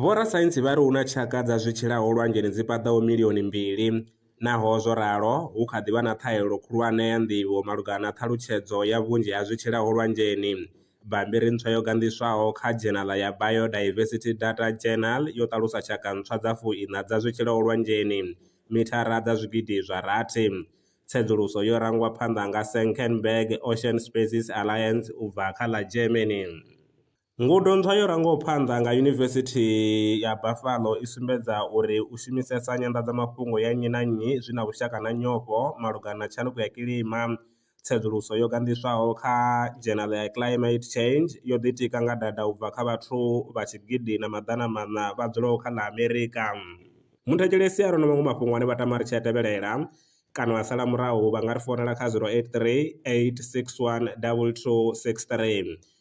Vhorasaintsi vha ri hu na tshaka dza zwi tshilaho lwanzheni dzi paḓaho milioni mbili. Naho zwo ralo, hu kha ḓi vha na ṱhahelelo khulwane ya nḓivho malugana na ṱhalutshedzo ya vhunzhi ha zwi tshilaho lwanzheni. Bammbiri ntswa yo ganḓiswaho kha dzhenaḽa ya Biodiversity Data Journal yo ṱalusa tshaka ntswa dza fu-iṋa dza zwi tshilaho lwanzheni, mithara dza zwigidi zwa rathi. Tsedzuluso yo rangwa phanḓa nga Senckenberg Ocean Species Alliance u bva kha ḽa Germany. Ngudo ntswa yo rangaho phanḓa nga Yunivesithi ya Buffalo i sumbedza uri u shumisesa nyanḓadzamafhungo ya nnyi na nnyi zwi na vhushaka na nyofho malugana na tshanduko ya kilima. Tsedzuluso yo ganḓiswaho kha dzhenala ya Climate Change yo ḓitika nga data u bva kha vhathu vha tshigidi na maḓana maṋa vha dzulaho kha ḽa Amerika. Muthetshelesi a re na maṅwe mafhungo ane vha tama ri tshi a tevhelela kana a sala murahu vha nga ri founela kha 083 861 2263.